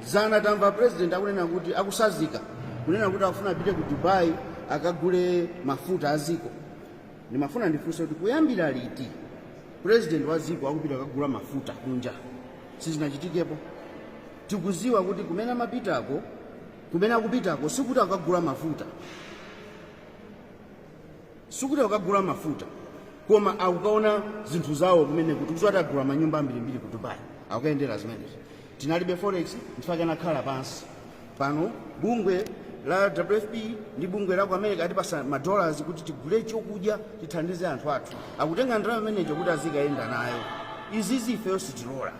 dzana tamva president akunena kuti akusazika kunena kuti akufuna apite ku dubai akagule mafuta a ziko ndimafuna ndifunse kuti kuyambira liti president wa ziko akupita kukagula mafuta kunja sizinachitikepo tikuziwa kuti kumene amapitako kumene akupitako sikuti akagula mafuta sikuti akukagula mafuta koma akukaona zinthu zawo kumene tikudziwa kuti agula manyumba ambirimbiri ku dubai akukayendera zimenezi tinalibe forex ndifake anakhala pansi pano bungwe la wfp ndi bungwe la ku america atipasa madollars kuti tigule chokudya tithandize anthu athu akutenga ndalama imeneyo kuti azikayenda nayo izizi ifeyo sitilola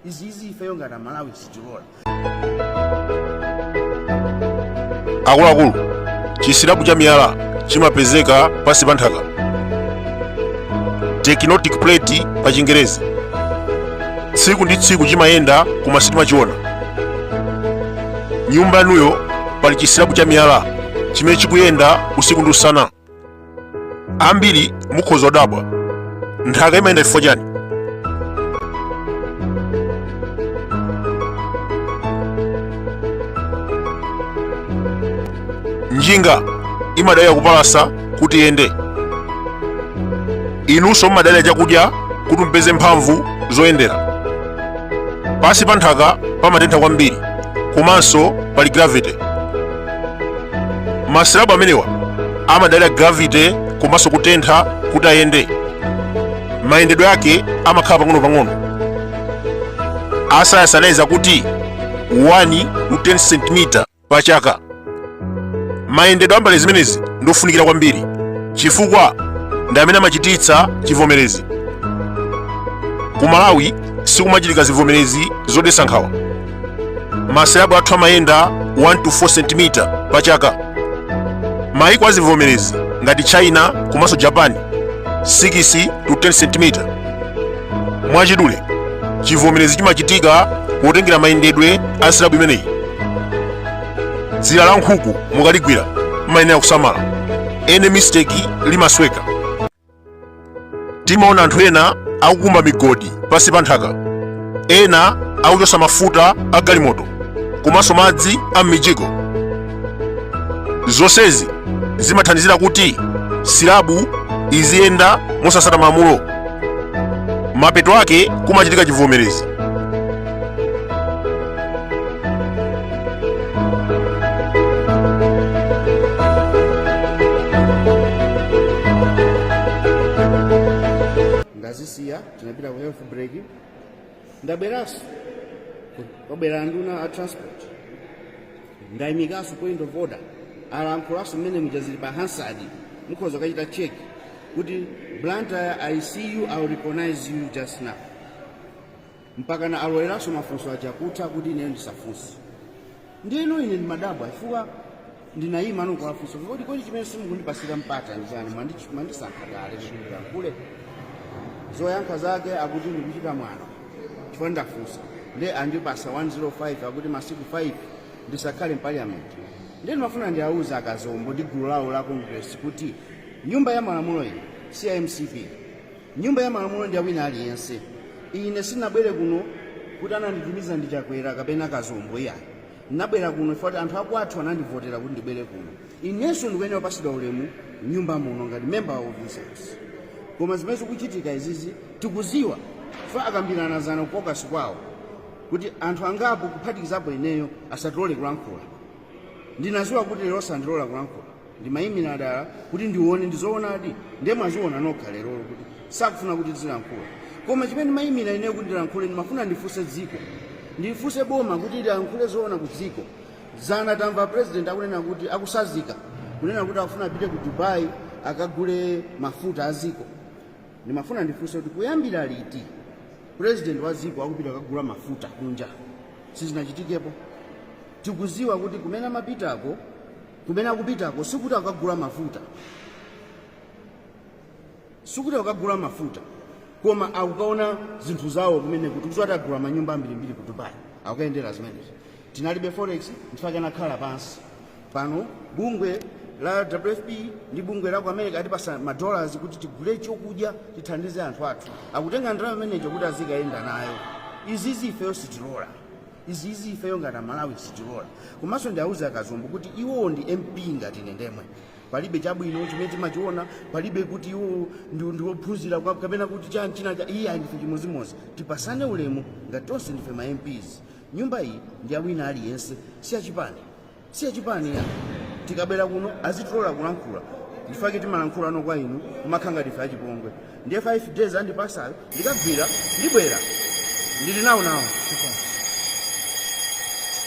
izizi ifeyo ngati amalawi sitilola akuluakulu chisilabu cha miyala chimapezeka pansi pa nthaka tectonic plate pa chingerezi tsiku ndi tsiku chimayenda koma sitimachiona nyumba yanuyo pali chisilabu cha miyala chimene chikuyenda usiku ndi usana ambiri mukhoza kudabwa nthaka imayenda chifukwa chani njinga imadalira kupalasa kuti iyende inunso mumadalira chakudya kuti mupeze mphamvu zoyendera pansi pa nthaka pamatentha kwambiri komanso pali gravity masilabu amenewa amadalira gravity komanso kutentha kuti ayende mayendedwe ake amakhala pang'onopang'ono asayansi anayeza kuti 1 to 10 cm pa chaka mayendedwe a mbale zimenezi ndofunikira kwambiri chifukwa ndi amene amachititsa chivomerezi ku malawi sikumachitika zivomerezi zodetsa nkhawa masilabu athu amayenda 1 to 4 cm pa chaka maiko azivomerezi ngati china komanso japan 6 to 10 cm mwachidule chivomerezi chimachitika potengera mayendedwe a silabu imeneyi dzira la nkhuku mukaligwira mayenera kusamala any mistake limasweka timaona anthu ena akukumba migodi pansi pa nthaka ena akuchotsa mafuta a galimoto komanso madzi a m'mijigo zonsezi zimathandizira kuti silabu iziyenda mosasata malamulo mapeto ake kumachitika chivomerezi ndazisiya tinapita ku health break ndabweranso kwabwera anduna a transport ndayimikanso point of order alankhulanso mmene muja zili pa hansard mukhoza kukachita check kuti blantyre i see you i will recognize you just now mpakana aloleranso mafunso aja kutha kuti ine ndisafunse ndiyeno ine ndimadabwa chifukwa ndinayima ndikufunsa kodi chimene simukundipasira mpata ndi chani Mwandi- mwandisankha kale kuti ndilankhule zoyankha zake akuti ndikuchita mwano chifukwa ndafunsa nde andipasa 105 akuti masiku 5 ndisakhale mpaliyamenti nde ndimafuna ndiawuze akazombo ndi gulu lawo la congress kuti nyumba ya malamulo iyi si ya mcp Nyumba ya malamulo ndiya wina aliyense. Ine sinabwere kuno kuti ananditumiza ndi Chakwera kapena Kazombo iyayi. Nabwera kuno chifukwa choti anthu akwathu anandivotera kuti ndibwere kuno. Inenso ndikuyenera kupasidwa ulemu nyumba muno ngati member of this house. Koma zimene zikuchitika izizi tikuziwa chifukwa akambirana zana ku caucus kwawo kuti anthu angapo kuphatikizapo ineyo asatilole kulankhula. Ndinaziwa kuti lero sandilola kulankhula. ndimayimira dala kuti ndione ndizoonadi ndiye mwaziona nokha lerolo kuti sakufuna kuti tizilankhula koma chimene ndimayimira ineyo kuti ndilankhule ndimafuna ndifunse dziko ndifunse boma kuti lilankhule zoona ku dziko zana tamva president akunena kuti akutsanzika kunena kuti akufuna apite ku dubai akagule mafuta a dziko ndimafuna ndifunse kuti kuyambira liti president wa dziko akupita akagula mafuta kunja sizinachitikepo tikuziwa kuti kumene amapitako Kumene akupitako sikuti akukagula mafuta, sikuti akukagula mafuta, koma akukaona zinthu zawo kumeneko. Tikudziwa kuti agula manyumba ambirimbiri ku Dubai, akukayendera zimenezi. Tinalibe forex nchifake anakhala pansi pano bungwe la WFP ndi bungwe la ku America atipasa ma dollars kuti tigule chokudya tithandize anthu athu, akutenga ndalama imeneyo kuti azikayenda nayo. Izizi ifeyo sitilola. izizi ifeyo ngati amalawi sitilola komanso ndiauze akazombo kuti iwowo ndi mp ngati ine ndemwe palibe chabwino chimene timachiona palibe kuti iwowo ndi- ndiwophunzira kwa- kapena kuti chani chinachake iyayi ndife chimodzimodzi tipasane ulemu ngati tonse ndife ma mps nyumba iyi ndi ya wina aliyense si ya chipani si ya chipani ayi tikabwera kuno azitilola kulankhula nchifake timalankhulano kwa inu kumakhala ngati ndife achipongwe ndiye 5 days andipasayo ndikagwira ndibwera ndili nawo nawo